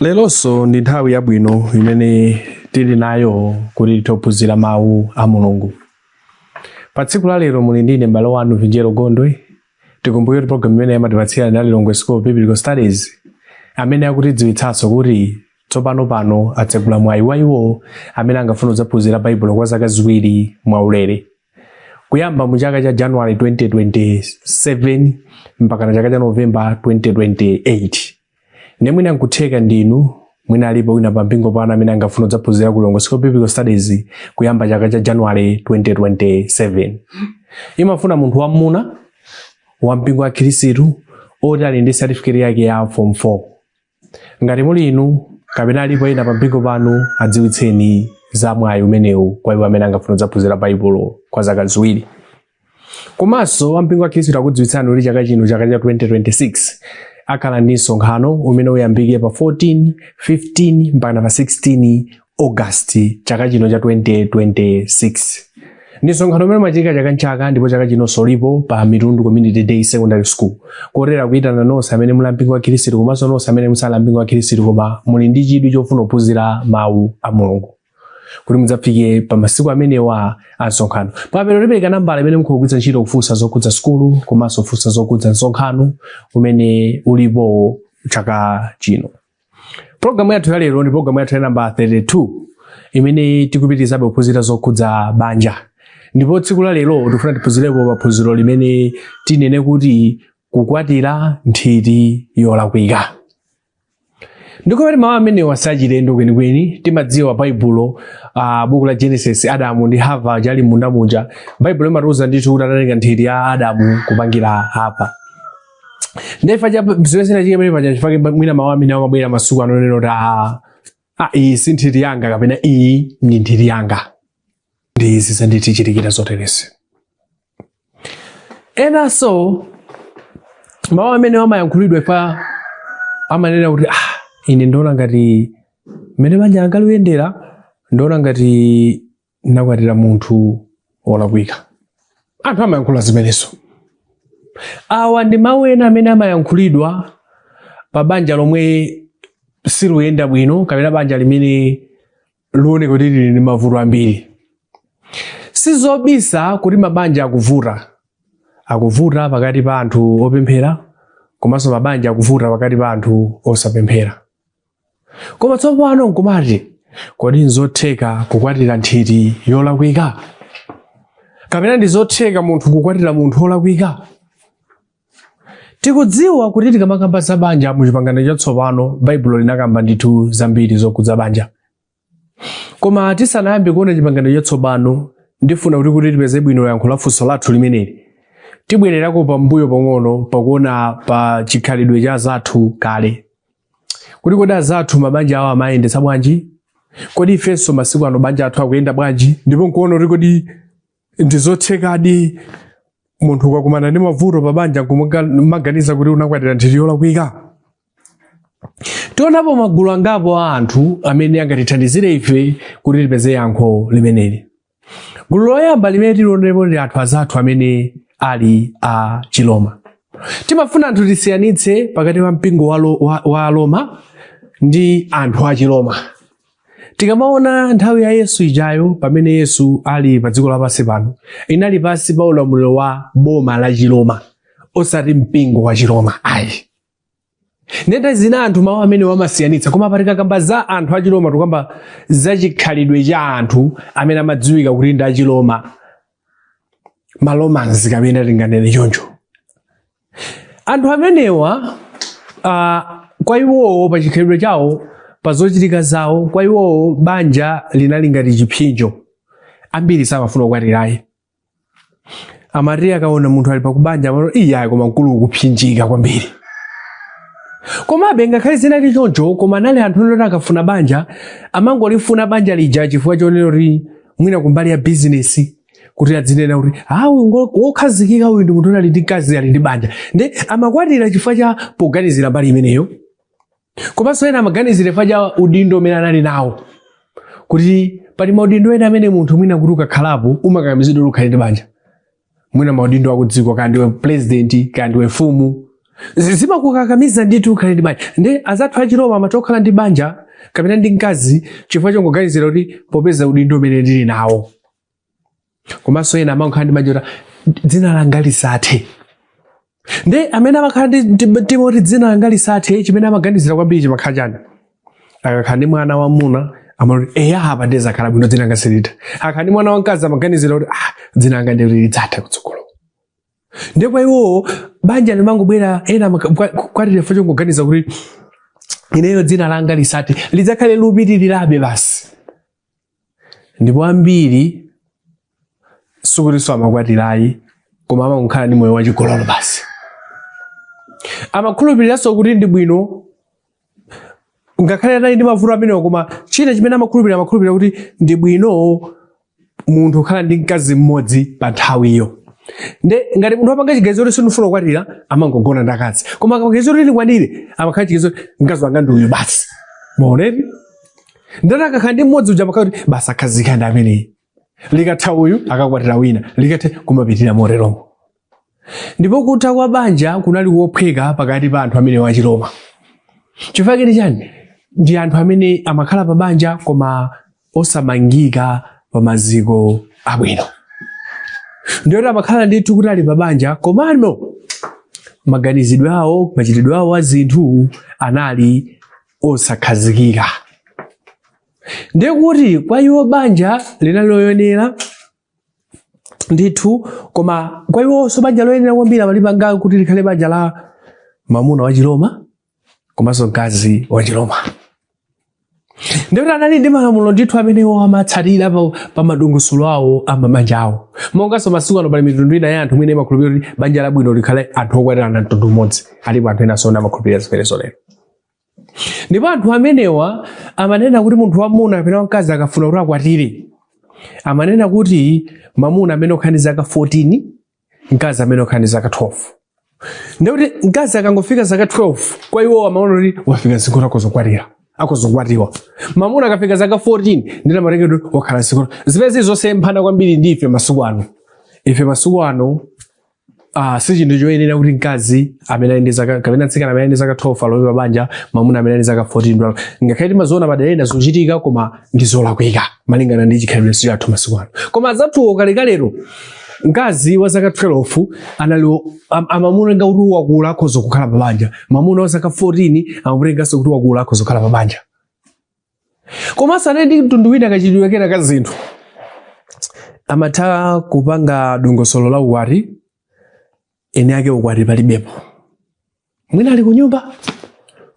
Leronso ndi nthawi yabwino imene tili nayo kuti tithophunzira mawu a Mulungu. Pa tsiku la lero muli ndine m'bale wanu Vinjero Gondwe. Tikumbuke kuti programu imeneyi amatipatsira ndi Lilongwe School of Biblical Studies amene akutidziwitsanso kuti tsopano pano atsegula mwayi wa iwo amene angafuna kudzaphunzira Baibulo kwa zaka ziwiri mwaulere. Kuyamba mu chaka cha January 2027 mpaka na chaka cha November 2028. Nde mwina nkutheka ndinu mwina alipo wina pa mpingo panu amene angafuna kudzaphunzira ku Lilongwe School of Biblical Studies kuyamba chaka cha January 2027. Imafuna munthu wamuna wa mpingo wa Khristu oti ali ndi certificate yake ya form 4. Ngati muli inu kapena alipo ena pa mpingo panu adziwitseni za mwayi umenewu kwa iwo amene angafuna kudzaphunzira Baibulo kwa zaka ziwiri. komanso ampingo wa khristu akukudziwitsani kuti chaka chino chaka cha 2026 akhala ndi msonkhano umene uyambike pa 14 15 mpaka pa 16 august chaka chino cha 2026 ndi msonkhano umene umachitika chaka nchaka ndipo chaka chinonso ulipo pa mitundu community day secondary school kotero akuyitana nonse amene muli ampingo wa khristu komanso nonse amene musali ampingo wa khristu koma muli ndi chidwi chofuna kuphunzira mawu a mulungu kuti mudzafike pa masiku amenewa a msonkhano pamapeto ndipereka nambala imene mutha kugwiritsa ntchito kufunsa zokhudza sukulu komanso kufunsa zokhudza msonkhano umene ulipo chaka chino pologalamu yathu ya lero ndi pologalamu yathu ya namba 32 imene tikupitirizabe kuphunzira zokhudza banja ndipo tsiku la lero tikufuna tiphunzirepo pa phunziro limene tinene kuti kukwatira nthiti yolakwika nde nkumati mawu amenewa sachilendo kwenikweni timadziwa baibulo uh, buku la genesis adamu ndi hava aja ali m'munda muja baibulo imatiuza ndithu kuti anatenga nthiti ya adamu kupangira hava nde chifukwa cha zimene zinachitika pamene paja nchifukwa chake mwina mawu amene amabwera masiku ano onena kuti ah, ah, iyi si nthiti yanga kapena iyi ndi nthiti yanga nde izi zanditichitikira zoterezi enanso mawu amene amayankhulidwa pa amanena kuti ah, ine ndiona ngati mmene banja langa likuyendera ndiona ngati ndakwatira munthu wolakwika anthu amayankhula zimenezo awa ndi mawu ena amene amayankhulidwa pa banja lomwe siluyenda bwino kapena banja limene likuoneka kuti lili ndi mavuto ambiri sizobisa kuti mabanja akuvuta akuvuta pakati pa anthu opemphera komanso mabanja akuvuta pakati pa anthu osapemphera koma tsopano nkumati kodi nzotheka kukwatira nthiti yolakwika kapena ndizotheka munthu kukwatira munthu olakwika Tikudziwa kuti tikamakamba za banja mu chipangano chatsopano Baibulo linakamba ndithu zambiri zokhudza banja. Koma tisanayambe kuona chipangano chatsopano ndifuna kuti kuti tipeze bwino yankho la funso lathu limeneli. Tibwererako pambuyo pang'ono pakuona pa chikhalidwe cha azathu kale. Kuti kodi azathu mabanja awo amayendetsa bwanji? Kodi ifenso masiku ano mabanja athu akuyenda bwanji? Ndipo nkuona kuti kodi ndizothekadi munthu ukakumana ndi mavuto pa banja kumaganiza kuti unakwatira nthiti yolakwika tionapo magulu angapo a anthu amene angatithandizire ife kuti tipeze yankho limeneli gulu loyamba limene tilionerepo ndi anthu azathu amene ali a Chiroma timafuna anthu tisiyanitse pakati pa mpingo wa, lo, wa, wa Aroma ndi anthu a Chiroma Tikamaona nthawi ya Yesu ijayo pamene Yesu ali pa dziko lapansi pano, inali pansi pa ulamuliro wa boma la Chiroma, osati mpingo wa Chiroma ayi. Nde nthawi zina anthu mawu amenewa amasiyanitsa koma pa tikakamba za anthu a Chiroma tukamba za chikhalidwe cha anthu amene amadziwika kuti ndi a Chiroma ma Romans kapena tinganene choncho. anthu amenewa uh, kwa iwowo pa chikhalidwe chawo pa zochitika zawo kwa iwowo banja linali ngati chipsinjo ambiri samafuna kukwatirayi amati akaona munthu ali pabanja amati iyayi koma mkulu ukupsinjika kwambiri komabe ngakhale zinali choncho koma anali anthu oti akafuna banja amangolifuna banja lija chifukwa chonena kuti mwina kumbali ya bizinesi kuti adzinena kuti awu ngo- wokhazikika uyu ndi munthu ali ndi mkazi ali ndi banja nde amakwatira chifukwa cha poganizira mbali imeneyo komanso ena amaganizira chifukwa cha udindo umene anali nawo kuti pali maudindo ena amene munthu mwina kuti ukakhalapo umakakamizidwa kuti ukhale ndi banja mwina maudindo akudziko kaya ndiwe pulezidenti kaya ndiwe mfumu Zi- zimakukakamiza ndithu ukhale ndi banja nde azathu achiroma amati okhala ndi banja kapena ndi mkazi chifukwa chongoganizira kuti popeza udindo umene ndili nawo komanso ena amakhala ndi banja kuti dzina langa lisathe nde amene amakhala ndi ndi mtima woti dzina langa lisathe chimene amaganizira kwambiri chimakhala chani akakhala ndi mwana wamuna amati eya apa ndiye zakhala bwino dzina langa silitha akakhala ndi mwana wamkazi amaganizira kuti ah dzina langa ndiye lidzatha kutsogolo nde kwa iwowo banja limangobwera ena amaka- kwa- kwatira chifukwa chongoganiza kuti ineyo dzina langa lisathe lidzakhale likupitirirabe basi ndipo ambiri sikutinso amakwatira ayi koma amangokhala ndi moyo wachigololo basi amakhulupiriranso kuti ndi bwino ngakhale anali ndi mavuto amenewo koma china chimene amakhulupirira amakhulupirira kuti ndi bwino munthu kukhala ndi mkazi mmodzi pa nthawiyo nde ngati munthu apanga chiganizo kuti sindifuna kukwatira amangogona ndi akazi koma akaganizo kuti ndikwatire amakhala chiganizo kuti mkazi wanga ndi uyu basi mwaona eti ndikuti akakhala ndi mmodzi uja amakhala kuti basi akhazikika ndi ameneyi likatha uyu akakwatira wina likatha kumapitirira moteromo ndipo kutha kwa banja kunali kophweka pakati pa anthu amenewa achiroma chifukwa chake ndi chani ndi anthu amene amakhala pa banja koma osamangika pa maziko abwino ndiye kuti amakhala ndithu kuti ali pa banja komano maganizidwe awo machitidwe awo a zinthu anali osakhazikika ndiye kuti kwa iwo banja linali loyenera ndithu koma kwa iwonso banja loyenera kwambiri amalipanga kuti likhale banja la mamuna wachiroma komanso mkazi wachiroma ndikuti anali ndi malamulo ndithu amene iwo amatsatira pa, pa madongosolo awo a mabanja awo monganso masiku ano pali mitundu ina ya anthu imene imakhulupirira kuti banja labwino likhale anthu okwatirana mtundu umodzi alipo anthu ena zoona amakhulupirira zimenezo lero ndipo anthu amenewa amanena kuti munthu wamuna kapena wamkazi akafuna kuti akwatire amanena kuti mamuna amayenera kukhala ndi zaka 14 mkazi amayenera kukhala ndi zaka 12 ndikuti mkazi akangofika zaka 12 kwa iwo amaona kuti wafika msinkhu woti akhoza kukwatira akhoza kukwatiwa mamuna akafika zaka 14 ndiye amatengedwa wakhala zikuti zimene zili zosemphana kwambiri ndi ife masiku ano ife masiku ano Ah, si chinthu choyenera kuti mkazi amene ali ndi zaka kapena mtsikana amene ali ndi zaka 12 alowe pa banja mwamuna amene ali ndi zaka 14 nde ngakhale timaziona madera ena zochitika koma ndi zolakwika malingana ndi chikhalidwe chathu masiku ano koma azathuwo kalekalero mkazi wa zaka 12 anali am, amamutenga kuti wakula akhoza kukhala pa banja mwamuna wa zaka 14 amamutenganso kuti wakula akhoza kukhala pa banja komanso anali ndi mtundu wina kachitidwe kena ka zinthu amatha kupanga dongosolo la ukwati eni ake ukwati palibepo mwina ali kunyumba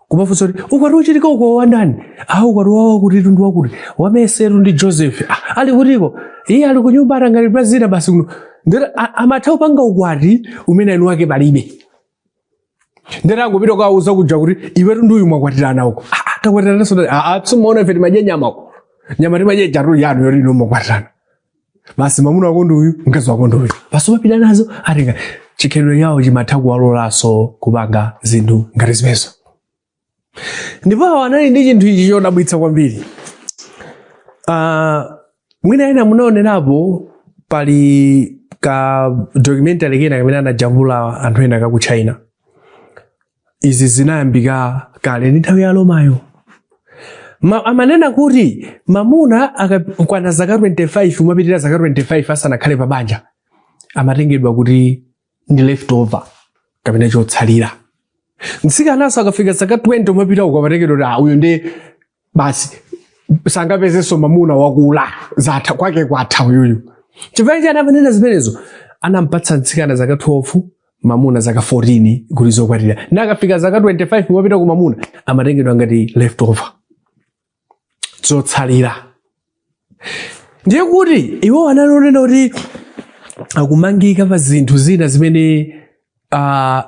kumafunsa kuti ukwati ukuchitika uko wandani a ukwati wa wakutitu ndi wakuti wa mercytu ndi joseph "Ah, ali kutiko iye ali kunyumba atanganidwa zina basi kuno nde amatha kupanga ukwati umene eni wake palibe nde angopita kukawauza kuja kuti iwetu ndi uyu mwakwatirana uko Ah, ah, takwatirana zoona aa simumaona ife timadya nyama uko nyama timadya ijatu yanu yoti inu mwakwatirana basi mamuna wako ndi uyu mkazi wako ndi uyu basi umapita nazo atenga chikhalidwe chawo chimatha kuwalolanso kupanga zinthu ngati zimenezo ndipo awa anali ndi chinthu ichi chodabwitsa kwambiri uh, mwina ena munaonerapo pali ka documentary kena kamene anajambula anthu ena aku china izi zinayambika kale ndi nthawi ya romayo amanena kuti mamuna akakwana zaka 25 kumapitirira zaka 25 asanakhale pa banja amatengedwa kuti ndi leftover kapena chotsalira mtsikanaso akafika zaka 20 kumapitako amatengedwa kuti "Ah, uyu ndi basi sangapezenso mamuna wakula zatha kwake kwatha uyuyu chifukwa chani amanena zimenezo anampatsa mtsikana zaka 12 mamuna zaka 14 kuti zokwatirana akafika zaka 25 kumapitako mamuna amatengedwa ngati leftover zotsalira ndiye kuti iwo analinso kunena kuti akumangika pa zinthu zina zimene uh,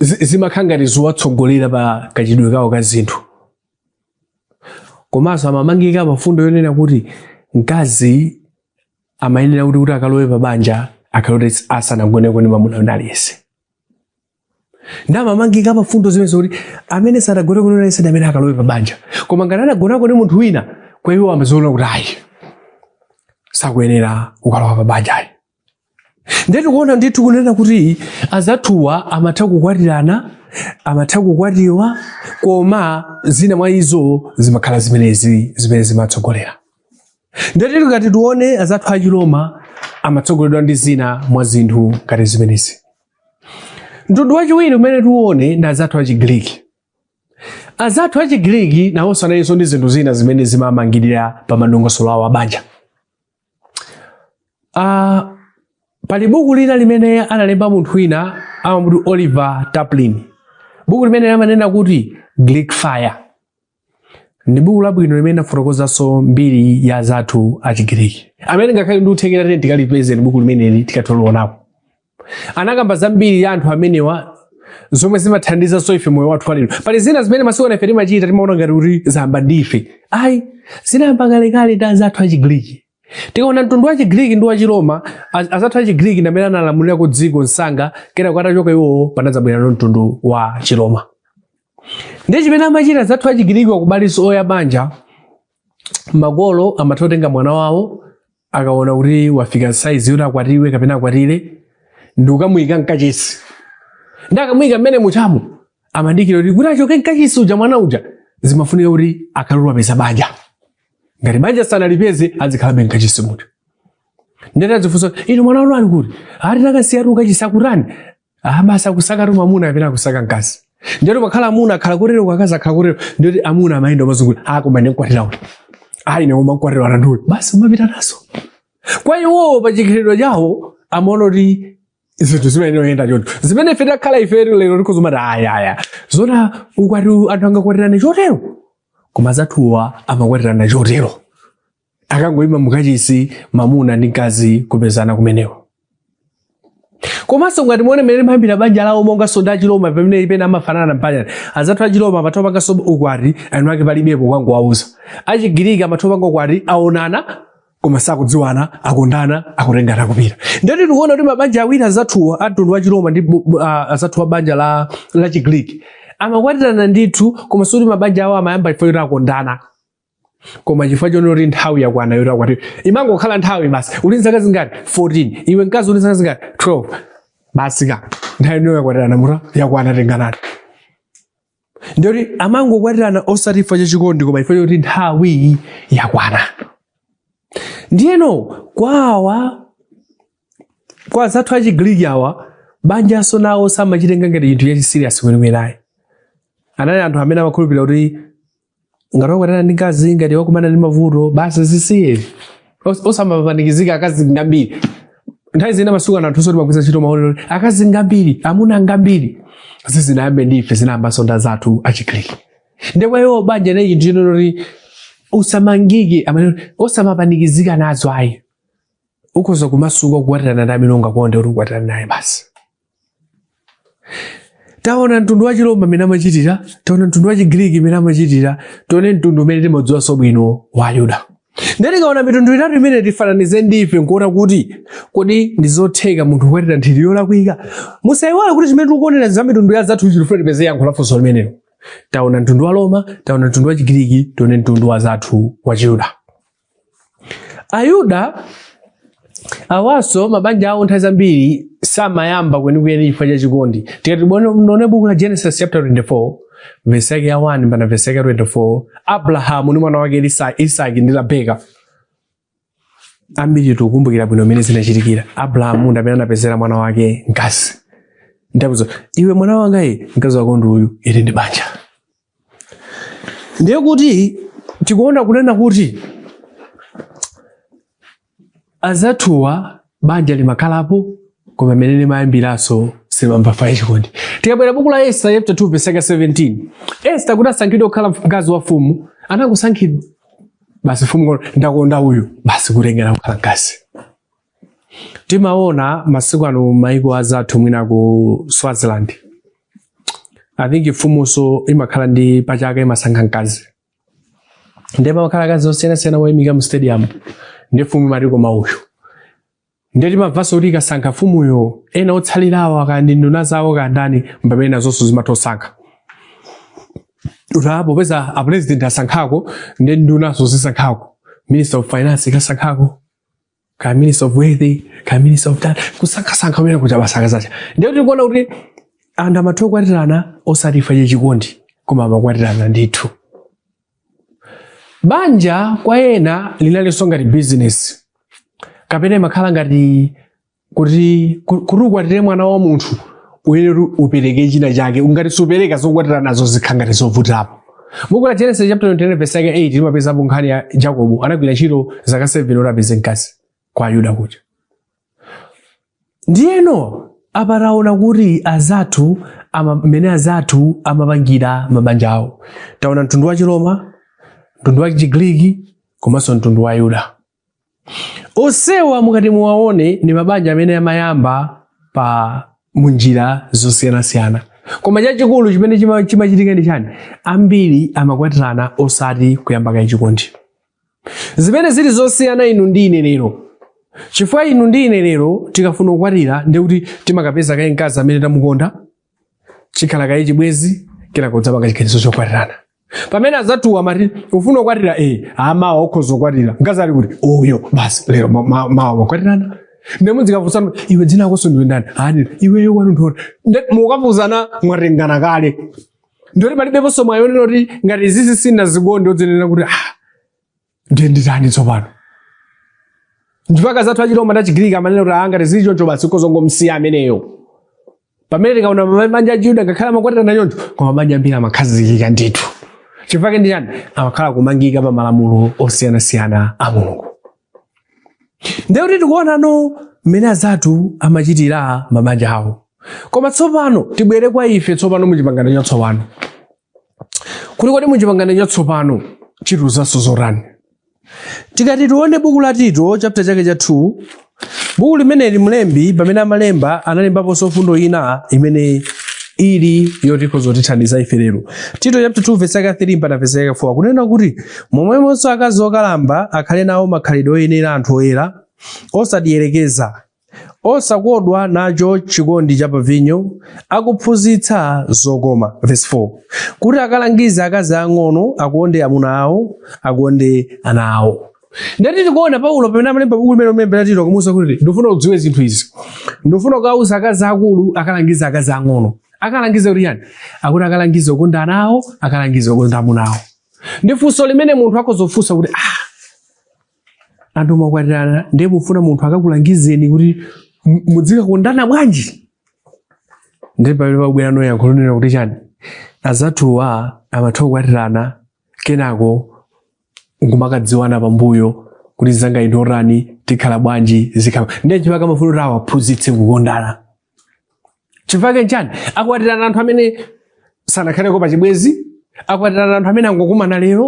zimakhala ngati zowatsogolera pa kachitidwe kawo ka zinthu komanso amamangika pa fundo yonena kuti mkazi amayenera kuti kuti akalowe pa banja akhale oti asanagoneko ndi mamuna wina aliyense nde amamangika pa mfundo zimenezo kuti amene sadagone wina aliyense ndi amene akalowe pa banja koma ngati adagonako ndi munthu wina kwa iwo amaziona kuti ayi sakuyenera kukalowa pa banja ayi ndiye tikuona ndithu kunena kuti azathuwa amatha kukwatirana amatha kukwatiwa koma zina mwa izo zimakhala zimenezi zimene zimatsogolera ndiye tili ngati tione azathu achiloma amatsogoleredwa ndi zina mwa zinthu ngati zimenezi Mtundu wachiwiri umene tiuone ndi azathu a Chigiriki. Azathu a Chigiriki nawonso analinso ndi zinthu zina zimene zimamangirira pa madongosolo awo abanja. Uh, pali buku lina limene analemba munthu wina amamutcha Oliver Taplin. Buku limene amanena kuti Greek Fire. ndi buku labwino limene linafotokozanso mbiri ya azathu achigiriki amene angakhale ndi kuthekera titati tikalipeze buku limeneli tikathe kulionapo anakamba za mbiri ya anthu amenewa zomwe zimathandizanso ife moyo wathu walero pali zina zimene masiku ano ife timachita timaona ngati kuti zayamba ndi ife ayi zinayamba kalekale ndi azathu achigiriki tikaona mtundu wa chigiriki ndi wa chiroma az- azathu achigiriki ndi amene analamulirako dziko msanga kenako atachoka iwowo panadzabwera no mtundu wa chiroma Ndiye chimene amachita azathu achigiriki wa kumbali iyo ya banja makolo amatha kutenga mwana wawo akaona kuti wafika saizi yoti akwatiwe kapena akwatire ndi kukamuyika mkachisi ndi akamuyika mmenemujamo amadikira kuti kuti achoke mkachisi uja mwana uja zimafunika kuti akhale kuti wapeza banja ngati banja sanalipeze azikhalabe mkachisi muja nde atadzifunsa inu mwana wanu ali kuti ati takasiyatu kukachisi akutani aha basi akusaka tu mamuna kapena akusaka mkazi ndiyoti pakhala amuna akhala kotero akazi akhala kotero ndiyoti amuna amayenda kumazungulira ah koma ine ndikwatira uti ayi ine ndikwatira wanga nduyo basi umapita naye kwa iwowo pa chikhalidwe chawo amaona kuti zinthu zimenezo zoyenda choncho zimene ife takhala ife lero tikhoza kumati ayaya zona ukwati anthu angakwatirane chotero koma azathuwa amakwatirana chotero akangoima mukachisi mamuna ndi mkazi kupezana komweko komanso ngati muone mmene limayambira banja lawo monga soda achiloma pamene ipene amafanana mbali ina azathu achiloma amatha kupanga soba ukwati eni ake palibepo kungowauza achigiriki amatha kupanga ukwati aonana koma sakudziwana akondana akutengana akupita ndiye tikuona kuti mabanja awiri azathuwa a mtundu wa chiloma ndi azathuwa a banja la, la chigriki amakwatirana ndithu koma sikuti mabanja awo amayamba chifukwa choti akondana koma chifukwa choti kuti nthawi yakwana yoti akwatiwe imangokhala nthawi basi uli ndi zaka zingati 14 iwe mkazi uli ndi zaka zingati 12 basi ka nthawi inu yakwatirana mutha yakwana tenganani ndiyoti amangokwatirana osati chifukwa cha chikondi koma chifukwa choti nthawi yakwana ndiyeno kwawa kwa azathu achigiriki awa banjanso nawo samachitenga ngati chinthu chachisiriyasi kwenikweni ayi anali anthu amene amakhulupirira kuti ngati wakwatirana ndi mkazi ngati wakumana ndi mavuto basi zisiye Os- osamapanikizika akazi ngambiri nthawi zina masiku ano anthunso timagwiritsa ntchito mawu oti akazi ngambiri amuna ngambiri sizinayambe ndi ife zinayambanso ndi azathu achigiriki ndiye kwa iwo banja nayi chinthu choti usamangike amene osamapanikizika nazo ayi ukhoza kumasuka kukwatirana ndi amene ungakonde kuti ukwatirane naye basi taona mtundu wa chiroma mmene amachitira taona mtundu wa chigiriki mmene amachitira tione mtundu umene timadziwanso bwino wa ayuda ndiye tikaona mitundu itatu imeneyi tifananize ndife nkuona kuti kodi ndi zotheka munthu kukwatira nthiti yolakwika musayiwale kuti chimene tikuonera za mitundu ya azathu tikufuna tipeze yankho la funso limenelo taona mtundu wa aroma taona mtundu wa chigiriki tione mtundu wa azathu wa chiyuda Ayuda awanso mabanja awo nthawi zambiri samayamba kwenikweni chifukwa cha chikondi. Tikati tione buku la Genesis chapter 24 verse yake ya 1 mpaka verse yake 24, Abrahamu ndi mwana wake Isaki ndi Rebeka ambiri tikukumbukira bwino mmene zinachitikira. Abrahamu ndi amene anapezera mwana wake mkazi. Nkumuuza iwe mwana wanga, mkazi wako ndi uyu, ili ndi banja ndiye kuti tikuona kunena kuti azathuwa banja limakhalapo koma mmene limayambiranso silimayambira pa chikondi tikabwera buku la esta chapter 2 verse 17 esta kuti asankhidwe kukhala mkazi wa mfumu anangosankhidwa basi mfumu ndakonda uyu basi kutengedwa kukhala mkazi timaona masiku ano maiko azathu mwina ku swaziland i think mfumunso imakhala ndi pachaka imasankha mkazi ndiye pamakhala akazi osiyanasiyana woyimika mu stadium ndi mfumu imati koma uyu ndiye timamvanso kuti ikasankha mfumuyo ena otsalirawo akaya ndi nduna zawo kandani mpamene nazonso zimatha osankha utapo peza a president asankhako ndi ndunanso zisankhako minister of finance ikasankhako kaya minister of wealth kaya minister of that kusankhasankha umene kuja basi kasakasaka ndiye tikuona kuti anthu amatha kukwatirana osati chifukwa chachikondi koma amakwatirana ndithu banja kwa ena linalinso ngati bizinesi kapena limakhala ngati kuti ku- kuti ukwatire mwana wa munthu uyenera kuti upereke china chake ukati supereka zokwatira nazo zikhala ngati zovutirapo buku la genesis chapter 29 verse yake 8 limapezapo nkhani ya jacobo anagwira ntchito zaka 7 kuti apeze mkazi kwa ayuda kuja ndiyeno apa taona kuti azathu ama- mmene azathu amapangira mabanja awo taona mtundu wa chiroma mtundu wa chigriki komanso mtundu wa ayuda Onsewa mukati muwaone ndi mabanja amene amayambika munjira zosiyanasiyana koma chachikulu chimene chima- chimachitika ndi chani ambiri amakwatirana osati kuyamba kaye chikondi zimene zili zosiyana ndi inu ndi ine lero chifukwa inu ndi ine lero tikafuna kukwatira ndi kuti timakapeza kaye mkazi amene tamukonda chikhala kaye chibwenzi kenako udzapanga chiganizo chokwatirana pamene anzathuwa amati ufuna kukwatira e amawa ukhoza ukwatira mkazi ali kuti uyo basi lero ma- ma- mawa wakwatirana nde muzikafunsana iwe dzina lakonso ndiwe ndani nanga iweyo kwanu nkuti mukafunsana mwatengana kale ndiye oti palibeponso mwayi wonena kuti ngati izizi sinazikonde udzinena kuti ah ndiye nditani tsopano n'chifukwa azathu achiroma ndi achigiriki amanena kuti aa ngati zili choncho basi ukhoza kungomsiya ameneyo pamene tikaona ma- mabanja achiyuda ngakhale amakwatirana choncho koma mabanja ambiri amakhazikika ndithu chifukwa ndi chani amakhala akumangika pa malamulo osiyanasiyana a mulungu ndiye kuti tikuonano mmene azathu amachitira mabanja awo koma tsopano tibwere kwa ife tsopano mu chipangano chatsopano kuti kodi muchipangano chatsopano chitiuzanso zotani tikati tione buku la tito chapter chake cha 2 buku limeneli mlembi pamene amalemba analembaponso mfundo ina imene ili yoti ikhoza kutithandiza ife lero tito chapter 2 verse yake 3 mpaka verse yake 4 kunena kuti momwemonso akazi okalamba akhale nawo makhalidwe oyenera anthu oyera osadiyerekeza osakodwa nacho chikondi cha pavinyo akuphunzitsa zokoma verse 4 kuti akalangize akazi ang'ono akonde amuna awo akonde ana awo ndati tikuona paulo pamene amalemba buku limene akulembera tito kumuuza kuti ndifuna udziwe zinthu izi ndifuna ukauza akazi aakulu akalangize akazi ang'ono akalangize kuti chiyani akuti akalangize kukonda ana awo akalangize kukonda amuna awo ndiye funso limene munthu akhoza kufunsa kuti ah, anthu mwakwatirana ndiye mufuna munthu akakulangizeni kuti mu- mudzikakondana bwanji ndiye pamene pabwera ndi yankho lonena kuti chiyani anzathuwa amatha kukwatirana kenako nkumakadziwana pambuyo kuti mnzangayu ndi wotani tikhala bwanji zikhala ndiye chifukwa chake amafuna kuti awaphunzitse kukondana chifukwa chake n'chiyani akwatirana anthu amene sanakhaleko pa chibwezi akwatirana anthu amene angokumana lero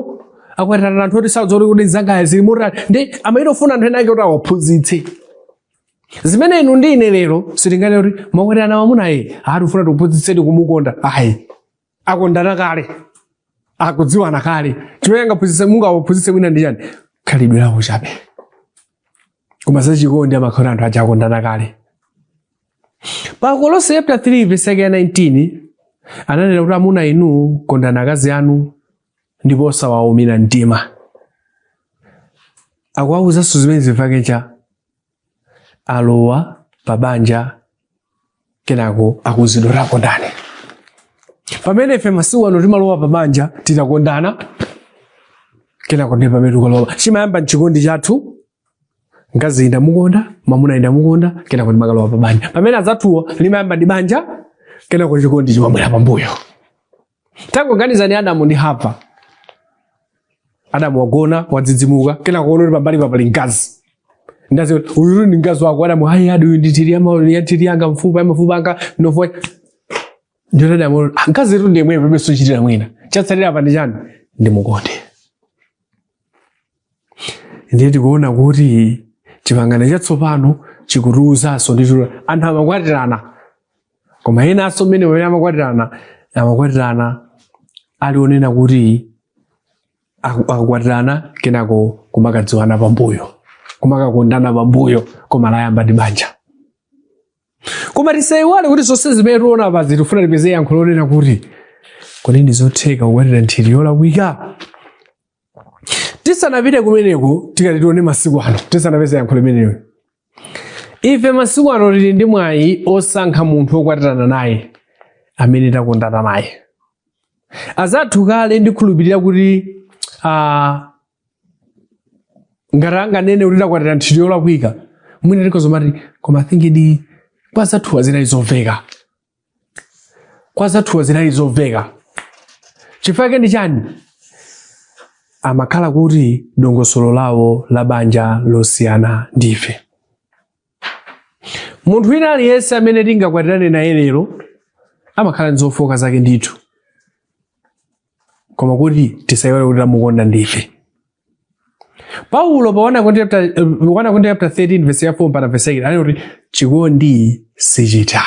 akwatirana anthu oti sadziwa kuti za mnzangayu zili motani ndiye amayita kufuna anthu ena ake kuti awaphunzitse zimene inu ndi ine lero sitinganene kuti mwakwatirana mwamunayo akuti akufuna tikuphunzitseni kumukonda ayi akondana kale akudziwana kale chimene angaphunzitse mungawaphunzitse mwina ndi chiyani khalidwe lawo chabe koma zachikondi amakhala anthu aja akondana kale pa kolose chapter 3 verse yake ya 19 ananena kuti amuna inu kondani akazi anu ndipo osawaumira mtima akuwawuzanso zimene zifukwa chake alowa pa banja kenako akuuzidwa kuti akondane pamene ife masiku ano timalowa pa banja titakondana kenako ndi pamene tikalowa chimayamba n'chikondi chathu mkazi ndamukonda mamuna ndamukonda kenako ndimakalowa pa banja pamene anzathuwo limayamba ndi banja kenako chikondi chimabwera pambuyo Tangoganizani Adamu ndi Hava. Adamu wagona wadzidzimuka, kenako waona kuti pambalipa pali mkazi. Mkazi uyu ndi mkazi wako Adamu, hayi akuti uyu ndi nthiti ya m'nthiti yanga fupa la mafupa anga mnofu. Ndiye Adamu, mkazitu ndi yemweyo palibenso chochitira mwina. Chatsalira apa ndi chiyani? Ndimukonde. ndiye tikuona kuti chipangano chatsopano chikutiuzanso ndithu anthu amakwatirana koma enanso mmene ena amakwatirana amakwatirana ali onena kuti aku- akukwatirana kenako kumakadziwana pambuyo kumakakondana pambuyo koma layamba ndi banja koma tisaiwale kuti zonse zimene tikuona apazi tifuna tipeze yankho lonena kuti kodi ndi zotheka kukwatira nthiti yolakwika tisanapite kumeneko tikati tione masiku ano tisanapeza yankho limenelo ife masiku ano tili ndi mwayi osankha munthu wokwatirana naye amene takondana naye azathu kale ndikhulupirira kuti ah, ngati anganene kuti takwatira nthiti yolakwika mwina tikozomati koma I think kwa azathuwa zinali zomveka kwa azathuwa zinali zomveka chifukwa chake ndi chani amakhala kuti dongosolo lawo la banja losiyana ndife munthu wina aliyense amene tingakwatirane naye lero amakhala ndi zofooka zake ndithu koma kuti tisaiwale kuti tamukonda ndife paulo pa 1 Korinto chapter- eh, 1 Korinto chapter 13 verse ya 4 mpaka verse 8 anena kuti chikondi sichitha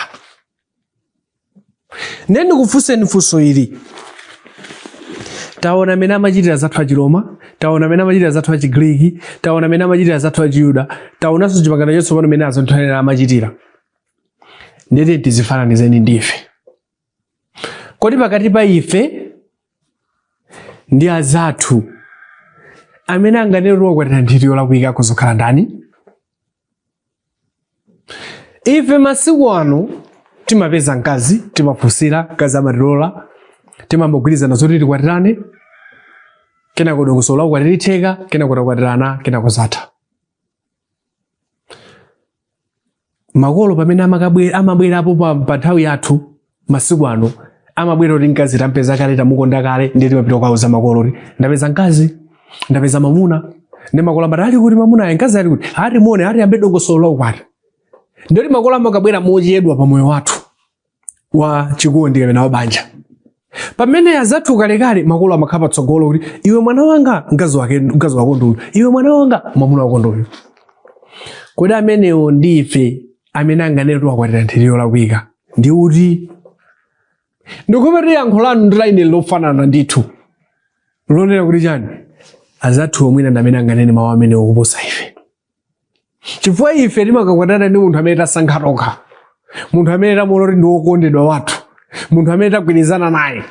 ndiye ndikufunseni funso ili taona mmene amachitira azathu achiroma taona mmene amachitira azathu achigriki taona mmene amachitira azathu achiyuda taonanso chipangano chatsopano mmene azathu amene amachitira ndete tidzifananizeni ndife kodi pakati pa ife ndi azathu amene anganene kuti wakwatira nthiti yolakwika kuzokhala ndani ife masiku ano timapeza mkazi timafunsira mkazi amatilola timamagwirizana zoti tikwatirane kenako dongosolo la ukwati litheka kenako takwatirana kenako zatha makolo pamene amakabwe- amabwerapo pa pa nthawi yathu masiku ano amabwera kuti mkazi tampeza kale tamukonda kale ndiye timapita kukauza makolo kuti ndapeza mkazi ndapeza mamuna ndi makolo amati ali kuti mamunayo mkazi ali kuti ati muone atiyambe dongosolo la ukwati ndikuti makolo amakabwera mochedwa pa moyo wathu wa chikondi kapena wa banja pamene azathu kalekale makolo amakhala patsogolo kuti iwe mwana wanga mkazi wake mkazi wako nduyu iwe mwana wanga mwamuna wako nduyu kodi amenewo ndi ife amene anganene kuti wakwatira nthiti yolakwika ndi uti ndikubetcha yankho lanu ndi laine lofanana ndithu lonena kuti chani azathu omwewa ndi amene anganene mawu amenewo kuposa ife chifukwa ife timakakwatirana ndi munthu amene tasankha tokha munthu amene tamuona kuti ndi wokondedwa wathu munthu amene tagwirizana naye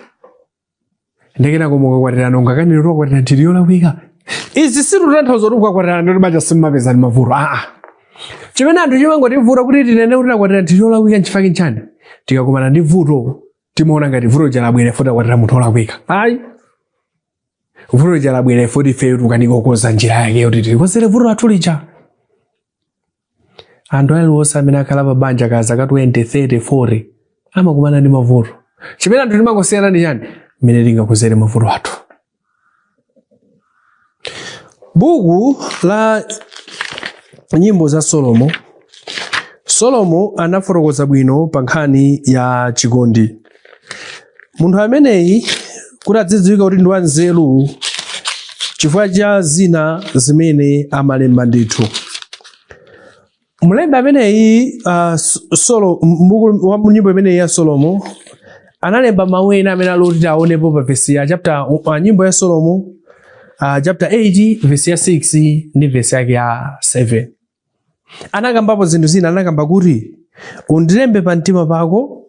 ndiye kenako ukakwatirana ungakanene kuti wakwatira nthiti yolakwika izi situtanthauza kuti ukakwatirana m'banja simumapezana ndi mavuto aa chimene anthu chimangotivuta kuti tinene kuti takwatira nthiti yolakwika nchifukwa nchani tikakumana ndi vuto timaona ngati vuto ija labwera chifukwa choti takwatira munthu olakwika ayi vuto lija labwera kuti ifeyo tikukanika kukonza njira yake yoti tilikonzere vuto lathu lija anthu aliwonse amene akhala pa banja ka zaka 20 30 40 amakumana ndi mavuto chimene anthu timangosiyana ndi chani mmene tingakonzere mavuto athu buku la nyimbo ya solomo solomo anafotokoza bwino pa nkhani ya chikondi munthu ameneyi kuti azidziwika kuti ndi wanzeru chifukwa cha zina zimene amalemba ndithu mlembi ameneyi uh, solo m'buku la nyimbo imeneyi ya solomo analemba mawu ena amene ali oti tionepo pa vesi ya chapter uh, nyimbo ya solomo uh, chapter 8 vesi ya 6 ndi vesi yake ya 7 anakambapo zinthu zina anakamba kuti undilembe pa mtima pako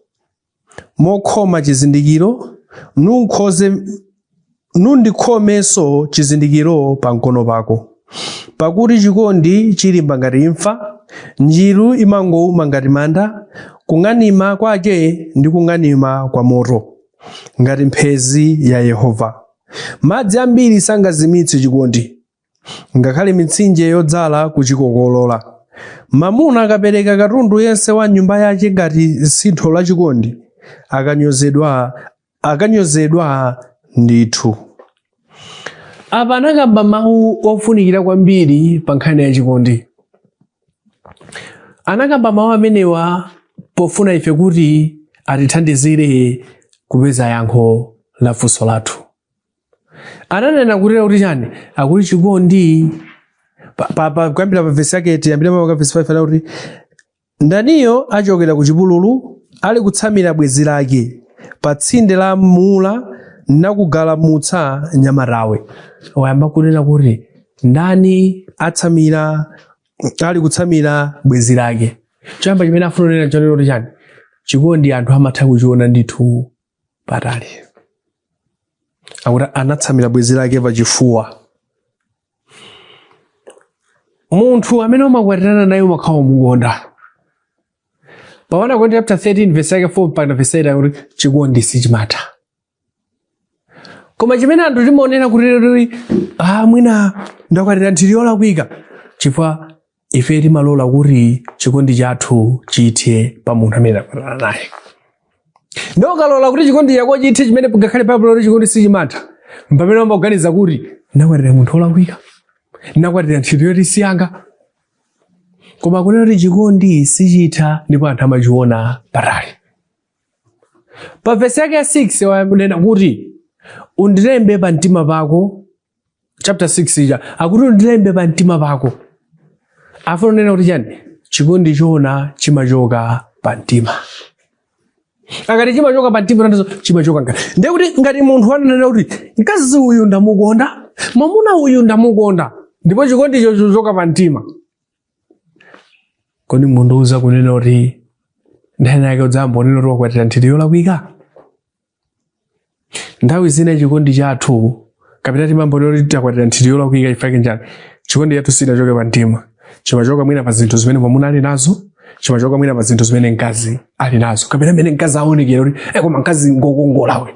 mokhoma chizindikiro nundikhomenso chizindikiro pa mkono pako pakuti chikondi chilimba ngati imfa njiru imangouma ngati manda kung'anima kwake ndi kung'anima kwa moto ngati mphezi ya yehova madzi ambiri sangazimitse chikondi ngakhale mitsinje yodzala kuchikokolola. Mamuna akapereka katundu yense wa m'nyumba yace ngati sintho la chikondi, akanyozedwa ndithu. Apa anakamba mawu ofunikira kwambiri pa nkhani ya chikondi. Anakamba mawu amenewa pofuna ife kuti atithandizire kupeza yankho la funso lathu. ananena kutera kuti chani akuti chikondi Pa- pa- pa- kuyambira pa vesi yake tiyambira pa vesi 5 anena kuti ndaniyo achokera ku chipululu ali kutsamira bwenzi lake pa tsinde la mula nakugalamutsa nyamatawe wayamba kunena kuti ndani atsamira ali kutsamira bwenzi lake choyamba chimene afuna kunena ndi chonena kuti chani chikondi anthu amatha kuchiona ndithu patali akuti anatsamira bwenzi lake pachifuwa munthu amene umakwatirana naye umakhala umukonda pa 1 akorinto chapter 13 verse yake 4 mpaka verse 8 akuti chikondi sichimatha koma chimene anthu timaonera kuti lero ah mwina ndakwatira nthiti yolakwika chifukwa ife timalola kuti chikondi chathu chithe pa munthu amene takwatirana naye ndipo ukalola kuti chikondi chako chithe chimene ngakhale baibulo likuti chikondi sichimatha mpamene umaganiza kuti ndakwatira munthu olakwika ndakwatira nthiti yoti siyanga koma kunena kuti chikondi sichitha ndipo anthu amachiona patali pa vesi yake ya 6 wanena kuti undilembe pa mtima pako chapter 6 ija akuti undilembe pa mtima pako afuna kunena kuti chani chikondi choona chimachoka pa mtima akati chimachoka pa mtima nanso chimachoka ngati ndiye kuti ngati munthu ananena kuti mkazi uyu ndamukonda mwamuna uyu ndamukonda ndipo chikondi chochoka pa mtima kodi mundiuza kunena kuti nthawi yake udzayamba kunena kuti wakwatira nthiti yolakwika nthawi zina chikondi chathu kapena timambonera kuti takwatira nthiti yolakwika chifukwa chake nchiyani chikondi chathu sichinachoke pa mtima chimachoka mwina pa zinthu zimene mwamuna ali nazo chimachoka mwina pa zinthu zimene mkazi ali nazo kapena mmene mkazi aonekera kuti "Eh, koma mkazi ngokongola we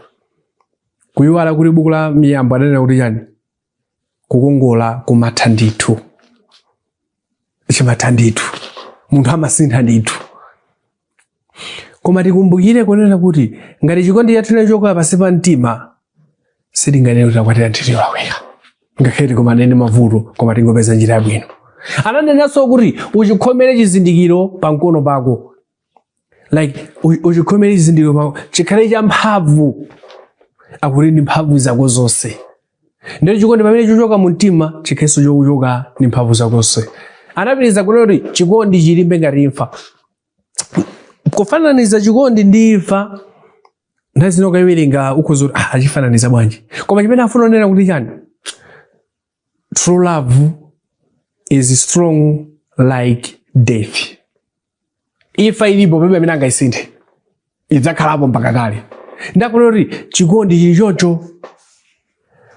kuyiwala kuti buku la miyambo ananena kuti chani kukongola kumatha ndithu chimatha ndithu munthu amasintha ndithu koma tikumbukire kunena kuti ngati chikondi chathu chinachoka pansi pa mtima sitinganene kuti takwatira nthiti yolakwika ngakhale tikumane ndi mavuto koma tingopeza njira yabwino ananenanso kuti uchikhomere chizindikiro pa mkono pako like u- uchikhomere chizindikiro pako chikhale cha mphamvu akuti ndi mphamvu zako zonse ndiye chikondi pamene chochoka mu mtima chikhalenso chochoka ndi mphamvu zako zonse anapitiriza kunena kuti chikondi chilimbe ngati imfa kufananiza chikondi ndi imfa nthawi zina ukayiwerenga ukhoza kuti ah, achifananiza bwanji koma chimene afuna kunena kuti chani True love is strong like death. Imfa ilipo palibe amene angaisinthe idzakhalapo mpaka kale. Ndiye akunena kuti chikondi chili choncho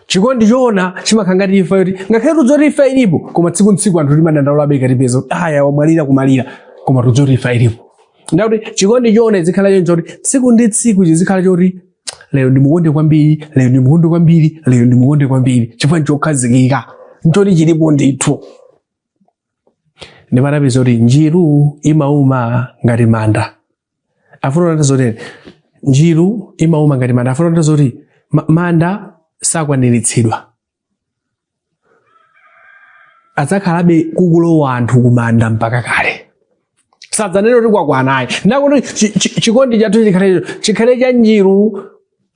chikondi choona chimakhala ngati imfa yoti ngakhale tikudziwa kuti imfa ilipo koma tsiku ntsiku anthu timadandaulabe ikatipeza kuti aya wamwalira kumalira koma tikudziwa kuti imfa ilipo. Ndiye akuti chikondi choona chizikhala choncho kuti tsiku ndi tsiku chizikhala choti lero ndimukonde kwambiri lero ndimukonde kwambiri lero ndimukonde kwambiri chifukwa nchokhazikika nchoti chilipo ndithu ndipo anapitiriza kuti njiru imauma ngati manda afuna kunena zoti njiru imauma ngati manda afuna kunena zoti ma- manda sakwaniritsidwa adzakhalabe kukulowa anthu kumanda mpaka kale sadzanena kuti kwakwanayi ndakuti chi- chi- chikondi chathu chikhale chikhale cha njiru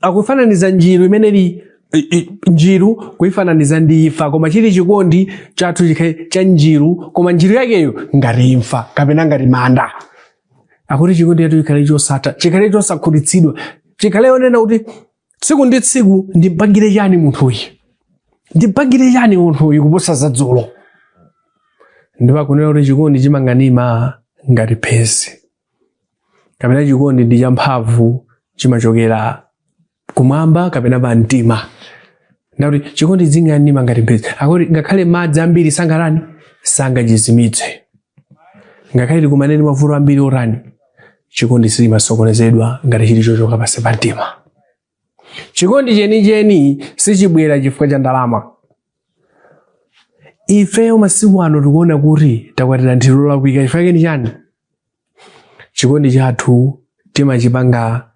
akufananiza njiru imene ili i- i- njiru kuifananiza ndi imfa koma chili chikondi chathu chikhale cha njiru koma njiru yakeyo ngati imfa kapena ngati manda akuti chikondi chathu chikhale chosatha chikhale chosakhutitsidwa chikhale onena kuti tsiku ndi tsiku ndimpangire chani munthuyi ndimpangire chani munthuyi kuposa za dzulo ndipo akunena kuti chikondi chimang'anima ngati mphezi kapena chikondi ndi champhamvu chimachokera kumwamba kapena pa mtima ndakuti chikondi ching'anima ngati mphezi akuti ngakhale madzi ambiri sangatani sangachizimitse ngakhale tikumane ndi mavuto ambiri otani chikondi sichimasokonezedwa ngati chili chochoka pansi pa mtima chikondi chenicheni sichibwera chifukwa cha ndalama ifeyo masiku ano tikuona kuti takwatira nthiti yolakwika chifukwa chake ni chani chikondi chathu timachipanga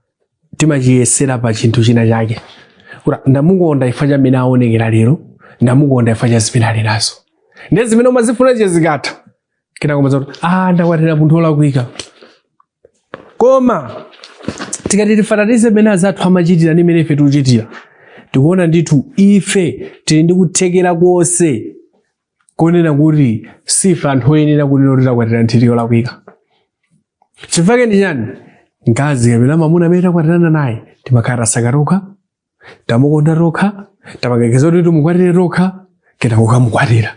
timachiyesera pa chinthu china chake kuti ndamukonda chifukwa cha mmene aonekera lero ndamukonda chifukwa cha zimene ali nazo ndiye zimene umazifuna zija zikatha kenako umadzati ah ndakwatira munthu olakwika koma tikati tifananize mmene azathu amachitira ndi mmene ife tikuchitira tikuona ndithu ife tili ndi kuthekera konse konena kuti sife anthu oyenera kunena kuti takwatira nthiti yolakwika chifukwa ndi chani mkazi kapena mamuna amene takwatirana naye timakhala tasaka tokha tamukonda tokha tapanga engage kuti timukwatire tokha kenako kukamukwatira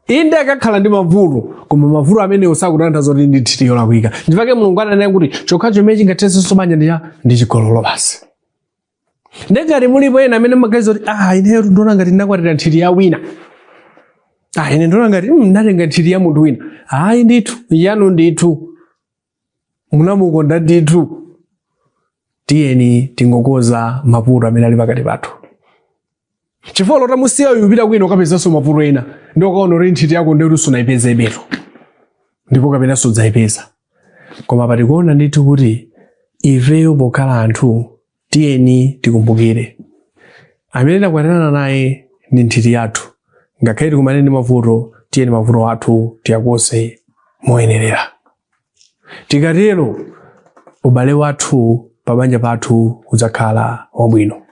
inde akakhala ndi mavuto koma mavuto amenewo sakutanthauza zoti ndi nthiti yolakwika chifukwa mulungu ananena kuti chokhacho chimene chingathetsenso banja ndi ndi chigololo basi nde ngati mulipo ena amene mumaganiza kuti ah ineyo ndikuona ngati ndinakwatira nthiti ya wina ah ine ndikuona ngati mm, ndatenga nthiti ya munthu wina ayi ndithu yanu ndithu munamukonda ndithu tiyeni tingokonza mavuto amene ali pakati pathu chifukwa olo utamusiya uyu upita kwina ukapezanso mavuto ena ndi ukaona kuti nthiti yako ndiyo kuti sunayipezebe ndipo kapena sudzayipeza koma patikuona ndithu kuti ifeyo pokhala anthu tiyeni tikumbukire amene takwatirana naye ndi nthiti yathu ngakhale tikumane ndi mavuto tiyeni mavuto athu tiyakonze moyenerera tikatero ubale wathu pabanja pathu udzakhala wabwino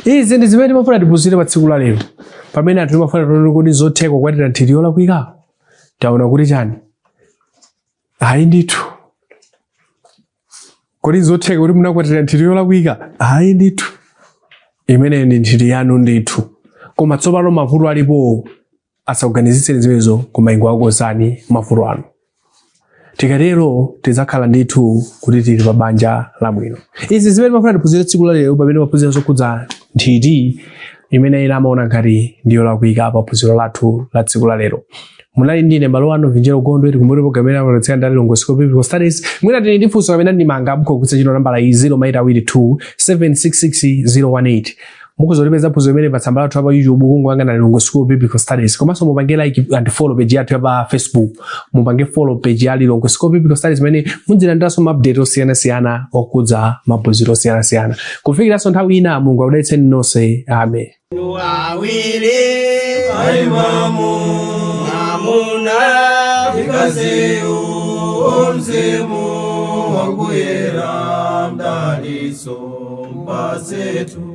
izi ndi zimene timafuna tiphunzire pa tsiku la lero pamene anthu timafuna tione kuti nzotheka kukwatira nthiti yolakwika taona kuti chani ayi ndithu Kodi n'zotheka kuti munakwatira nthiti yolakwika? Ayi ndithu, imeneyo ndi nthiti yanu ndithu. Koma tsopano mavuto alipowo asakuganizitseni zimenezo, koma ingowakonzani mavuto anu. Tikatero tidzakhala ndithu kuti tili pa banja labwino. Izi zimene timafuna tiphunzire tsiku la lero pamene timaphunzira zokhudza nthiti imene ena amaona ngati ndi yolakwika pa phunziro lathu la tsiku la lero munali ndine mbale wanu vinjeru gondwe tikumbuke kuti programu imene amabweretsera ndi a lilongwe school of biblical studies mwina tili ndi funso kapena ndemanga mukhoza kugwiritsa ntchito nambala iyi 0 ma eight awiri 2 766 018 mukhoza kulipeza phunziro limeneli pa tsamba lathu la pa youtube kungowanga ndi a lilongwe school of biblical studies komanso mupange like and follow page yathu ya pa facebook mupange follow page ya lilongwe school of biblical studies imene mudzilandiranso maupdate osiyanasiyana okhudza maphunziro osiyanasiyana kufikiranso nthawi ina mulungu akudalitseni nonse amen awiri aimamu mwamuna ndi mkaziyu o mzimu wakuyera mdalitso mpatsetu